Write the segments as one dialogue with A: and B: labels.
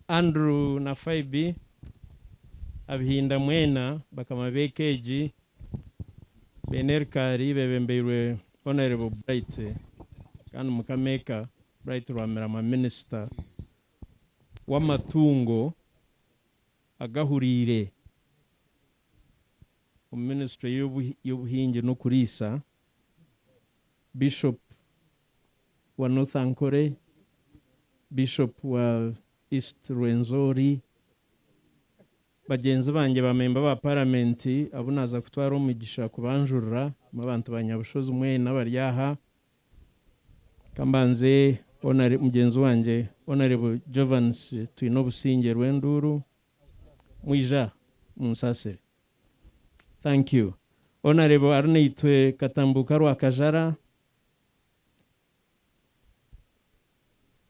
A: Andrew na Phoebe, abihinda mwena bakama b'eka egi, beine erikaari bebembeirwe Honourable Bright kandi mukama eka Bright Rwamirama minister w'amatungo agahuriire. omu ministry y'obuhingi n'okuriisa, Bishop wa North Ankore, Bishop wa East Rwenzori, bagyenzi bangye ba memba ba parliament abu naaza kutwara omugisha kubanjurira, n'abantu ba Nyabushozi mwena abari aha, ka mbanze mugyenzi wangye Honourable Jovansi Twinobusingye Rwenduuru, Mwija munsasire. Thank you Honourable ari naitwe Katambuuka Rwakajara.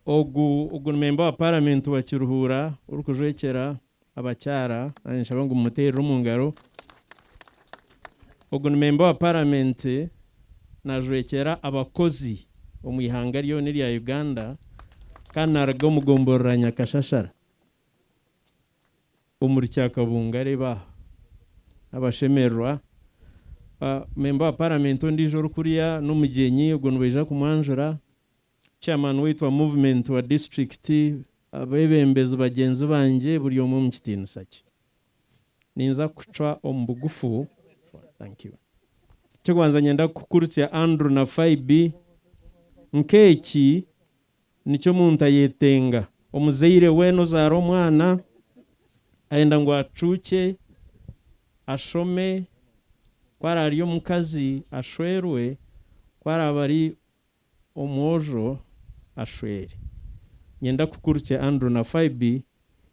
A: Ogu ogu ni member wa parliament wa Kiruhuura orikujwekyera abakyara nanye ninshaba ngu mumuteerere omu ngaro. Ogu ni member wa parliament najwekyera abakozi omu ihanga ryona erya Uganda kandi naruga omu gomborora Nyakashashara. omuri Kyakabunga reeba aha. Abashemererwa ba memba wa paramenti ondiijo orikuriya n'omugyenyi ogwo nibaija kumwanjura, chairman waitu wa movement wa disiturikiti, abebembezi bagyenzi bangye buri omwe omu kitiinisa kye. Ninza kucwa omu bugufu. Eky'okubanza niinyenda kukukurutsya Andrew na Phoebe nk'eki nikyo omuntu ayetenga. Omuzaire weena ozaara omwana ayenda ngu acuukye, ashome, ku araabe ari omukazi ashwerwe, ku araabe ari omwojo ashwere. Niinyenda kukurukya Andrew na Phoebe,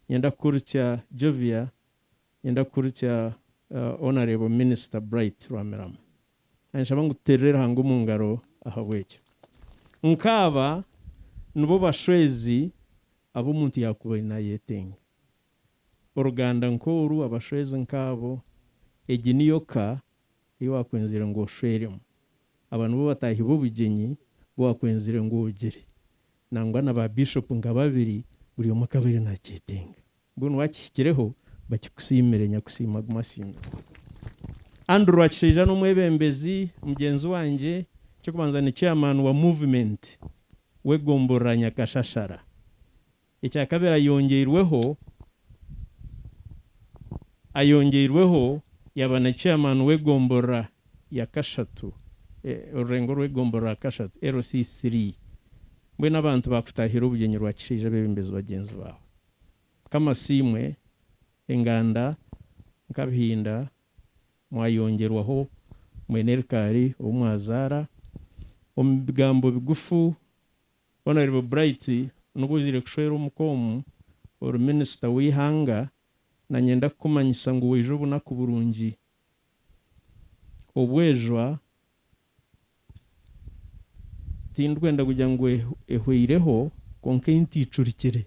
A: niinyenda kukurukya Jovia, niinyenda kukurukya Honourable Minister Bright Rwamirama. Ninshaba ngu tuteerere Ruhanga omu ngaro ahabw'ekyo. Nk'aba nibo bashwezi abu omuntu yaakubaire naayetenga. Oruganda nk'oru, abashwezi nk'abo, egi niyo ka ei waakwenzire ngu oshweremu. Aba nibo bataahi b'obugyenyi bu waakwenzire ngu ogire. Nangwa na ba Bishopu nka babiri, buri omwe akabaire naakyetenga. Mbwenu wakihikireho bakikusiimire Nyakusiima agume asiimwe. Andrew Rwakishaija n'omwebembezi mugyenzi wangye, eky'okubanza ni chairman wa movement w'egomborora Nyakashashara. Ekyakabiri ayongyeirweho ayongyeirweho yaba na chairman w'egomborora ya Kashatu orurengo rw'egomborora Kashatu, LC3. Mbwenu abantu bakutahiire obugyenyi Rwakishaija bebembezi bagyenzi baawe. Mukama siimwe, enganda nkabihinda mwayongyerwaho mwene rikaari ou mwazaara, omu bigambo bigufu Honourable Bright nibwo ozaire kushwera omu com ori minister w'eihanga na nyenda kukumanyisa ngu waija obunaku burungi obwejwa Tindikwenda kugira ngu ehweireho, kwonka ei ntiicurikire.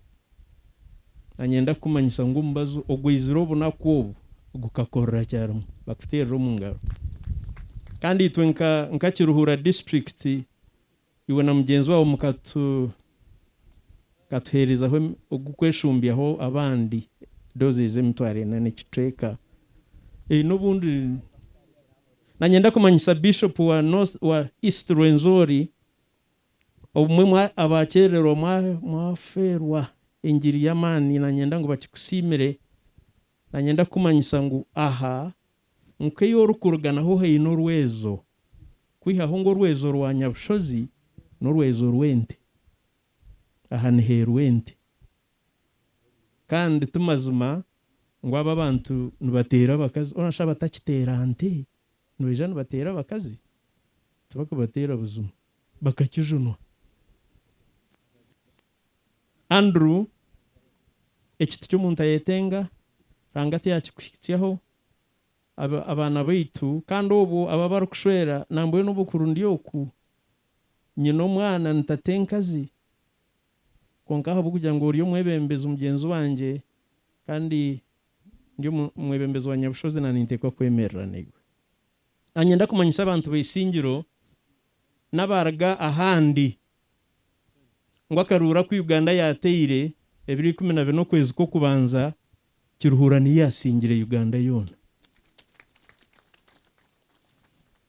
A: Nanyenda kukumanyisa ngu omubazi ogu aizire obunaku obu gukakorera kyarimwe bakuteerere omu ngaro. Kandi itwe nka Kiruhura disiturikiti Iwe na mugyenzi waawe mukatuheerezaho ogw'okweshumbyaho abandi doozi ez'emitwaro ena n'ekicweka. N'obundi nanyenda kumanyisa Bishopu wa wa East Rwenzori obumwe abaakyererwa mwafeerwa engiri y'amaani. Nanyenda ngu bakikusiimire Nanyenda kukumanyisa ngu aha nku ei orikuruga naho haine orwezo, kwihaho ngu orwezo rwa nyabushozi n'orwezo rw'ente. Aha niheerwa ente. Kandi ti mazima ngu abo abantu nibateera abakazi. Orashusha abatakiteera nte nibaija nibateera abakazi? Tibarikubateera buzima. Bakakijunwa. Andrew, Eki tiky'omuntu ayetenga, Ranga tiyakikuhitsyaho, abaana baitu, kandi obwo aba barikushwera nambwenu obukuru ndi oku, nyine omwana ni tatenkazi, kwonka ahabw'okugira ngu ori omwebembezi mugyenzi wangye kandi ndi omwebembezi wa Nyabushozi na ninteekwa kwemerera naiwe. Anyenda kumanyisa abantu baisingiro n'abaruga ahandi ngu akaruuru aku Uganda yaateire ebiro ikumi na bina okwezi kw'okubanza kiruhuura niyo eyaasingire Uganda yoona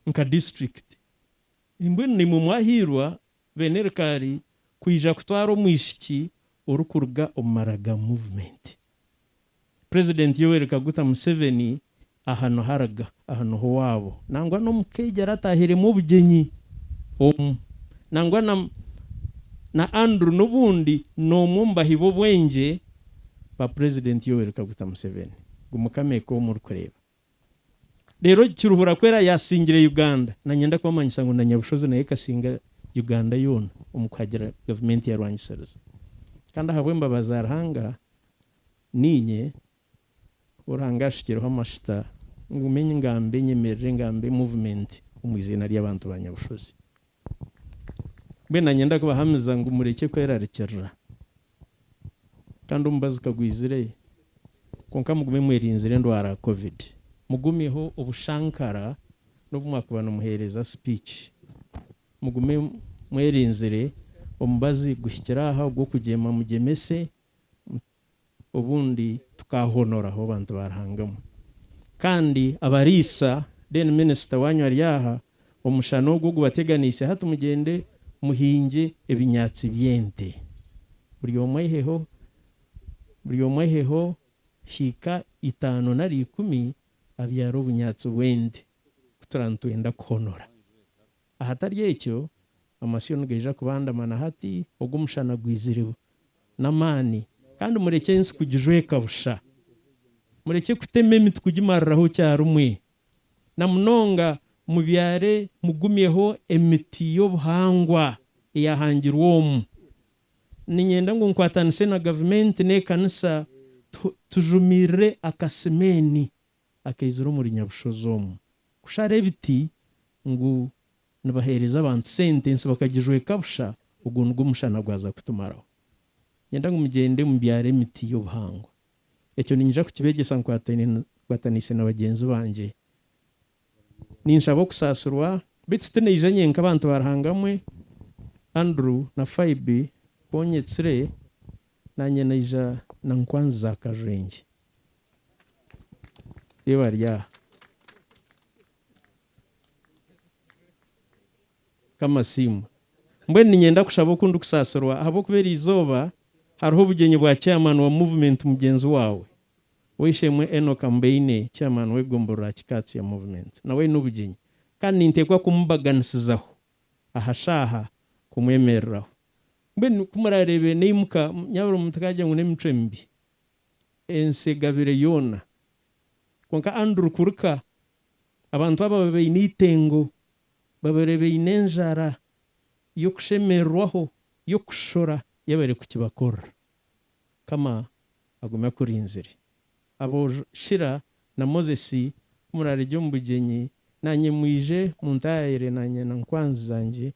A: nka disiturikiti. Mbwenu naimwe mwahairwa beenerikaari kwija kutwara omwishiki orikuruga omu maraga muvumenti President Yoweri Kaguta Museveni aha niho araga, aha niho owaabo nangwa n'omukaija aratahiremu obugyenyi omu nangwa na na Andrew n'obundi n'omwe omu bahi b'obwengye ba President Yoweri Kaguta Museveni. Guma okameeka omu orikureeba. Rero Kiruhura ku era yasingire Uganda, na nyenda kubamanyisa ngu na Nyabushozi nayo ekasinga Uganda yoona omu kuhagira gavumenti eyarwanyisiriza. Kandi ahabw'embabazi za Ruhanga, niinye ou Ruhanga ashukireho amashuta ngume ngambe nyemerire ngambe movement omu iziina ry'abantu ba Nyabushozi. Mbwenu nyenda kubahamiza ngu murekye kwerarikirira kandi omubazi kagwizire kwonka mugume mwerinzire endwara ya covid. Mugumyeho obushankara n'obu mwakuba nimuheereza speech. Mugume mwerinzire omubazi guhikire aha ogw'okugyema mugyemese. obundi tukahonoraho abantu ba Ruhanga emwe. Kandi abariisa, then minister wanyu ari aha, omushana ogu ogubateganiise hati mugyende muhingye ebinyaatsi by'ente. Buri omwe aiheho, buri omwe aiheho hiika itaano nari ikumi abyare obunyaatsi bw'ente, ku turaaba nitwenda kuhonora. Ahatari ekyo, amasyo nigaija kubandamana hati ogu omushana gwizire n'amaani, kandi murekye ensi kugijweka busha. Murekye kutema emiti kugimariraho kyarimwe. Na munonga, mubyare mugumyeho emiti y'obuhangwa eyahangirwe omu. Niinyenda ngu nkwatanise na gavumenti n'ekanisa tujumirire akasimeeni. akaizire omuri Nyabushozi omu kushara ebiti ngu nibaheereza abantu sente ensi bakagijweka busha ogwo nigwo mushana gwaza kutumaraho. Niinyenda ngu mugyende mubyare emiti y'obuhangwa. Ekyo niinyija kukibeegyesa nkwataniise na bagyenzi bangye. Ninshaba okusaasirwa beitu tinaija nyenka abantu ba Ruhanga mwe, Andrew na Phoebe, ku onyetsire, naanye naija na Nkwanzi za Kajwengye. Mbwenu niinyenda kushaba oku ndikusaasirwa ahabw'okuba eri izooba hariho obugyenyi bwa chairman wa Movement mugyenzi waawe, ow'eishe-emwe Enock Ambeine, chairman w'egomborro aha kika kya Movement. Nawe aine obugyenyi kandi ninteekwa kumubaganisizaho aha shaaha kumwemereraho. Mbwenu ku muraareebe naimuka, nyaabura omuntu kaagira ngu n'emitwe mibi. ensi egabire yoona. Kwonka Andrew Kurka, Abantu aba babaine eitengo, babaire baine enjara y'okushemererwaho, y'okushora yabaire kukibakorera. Mukama agume akurinzire. Aboojo Shira na Moses, ku muraaregye omu bugyenyi, naanye mwije muntaayire naanye na nkwanzi zangye.